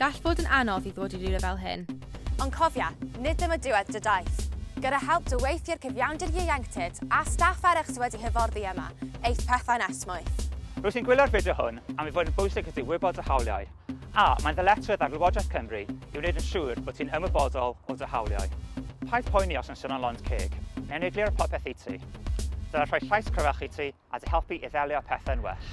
Gall fod yn anodd i ddod i rywle fel hyn. Ond cofia, nid dyma diwedd dy daith. Gyda help dy weithiwr cyfiawnder ieuenctid a staff eraill sydd wedi hyfforddi yma, eith pethau'n esmwyth. Rwyt ti'n gwylio'r fideo hwn am ei fod yn bwysig i ti wybod dy hawliau. A, mae'n ddyletswydd ar Lywodraeth Cymru i wneud yn siŵr bod ti'n ymwybodol o dy hawliau. Paid poeni os yn sôn am lond ceg, neu'n egluro popeth i ti. Dylai rhoi llais cryfach i ti a dy helpu i ddelio â pethau'n well.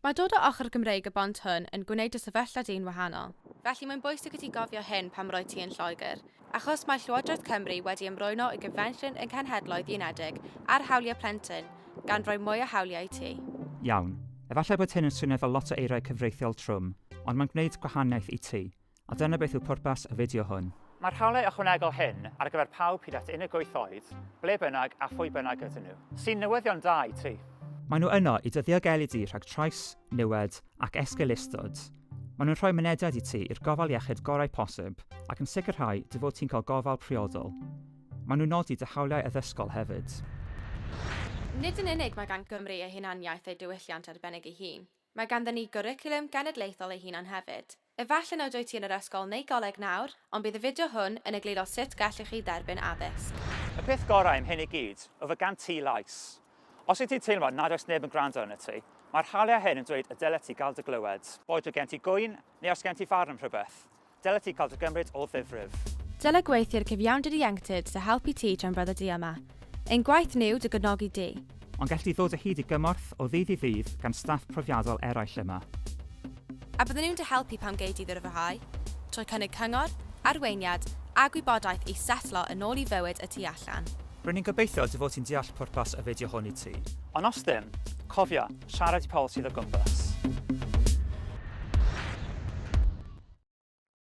Mae dod o ochr Gymreig y bont hwn yn gwneud dy sefyllfa di'n wahanol. Felly mae'n bwysig i ti gofio hyn pan roedd ti yn Lloegr. Achos mae Llywodraeth Cymru wedi ymrwyno i Gonfensiwn y Cenhedloedd Unedig ar Hawliau Plentyn, gan roi mwy o hawliau i ti. Iawn, efallai bod hyn yn swnio fel lot o eiriau cyfreithiol trwm, ond mae'n gwneud gwahaniaeth i ti. A dyna beth yw pwrpas y fideo hwn. Mae'r hawliau ychwanegol hyn ar gyfer pawb hyd at unig wyth oed, ble bynnag a phwy bynnag ydyn nhw, sy'n newyddion da i ti. Maen nhw yno i dy ddiogelu di rhag trais, niwed, ac esgeulustod, maen nhw'n rhoi mynediad i ti i'r gofal iechyd gorau posib ac yn sicrhau dy fod ti'n cael gofal priodol. Maen nhw'n nodi dy hawliau addysgol hefyd. Nid yn unig mae gan Gymru ei hunaniaeth ei diwylliant arbennig ei hun, mae ganddyn ni gwricwlwm genedlaethol ei hunan hefyd. Efallai nad wyt ti yn yr ysgol neu goleg nawr, ond bydd y fideo hwn yn egluro sut gellwch chi dderbyn addysg. Y peth gorau am hyn i gyd yw fod gan ti lais. Os wyt ti'n teimlo nad oes neb yn gwrando arnot ti, mae'r hawliau hyn yn dweud y dylet ti gael dy glywed. Boed o gen ti gŵyn neu os gen ti farn am rhywbeth, dylet ti cael dy gymryd o ddifrif. Dylai gweithwyr cyfiawnder ieuenctid dy helpu ti tra'n breuddwydio yma. Ein gwaith ni yw dy gefnogi di. Ond gelli di ddod o hyd i gymorth o ddydd i ddydd gan staff profiadol eraill yma. A bydden nhw'n dy helpu pan gei di ddyfrhau, trwy cynnig cyngor, arweiniad a gwybodaeth i setlo yn ôl i fywyd y tu allan. R'yn ni'n gobeithio dy fod ti'n deall pwrpas y fideo hwn i ti. Ond os ddim, cofia, siarad i pobl sydd o gwmpas.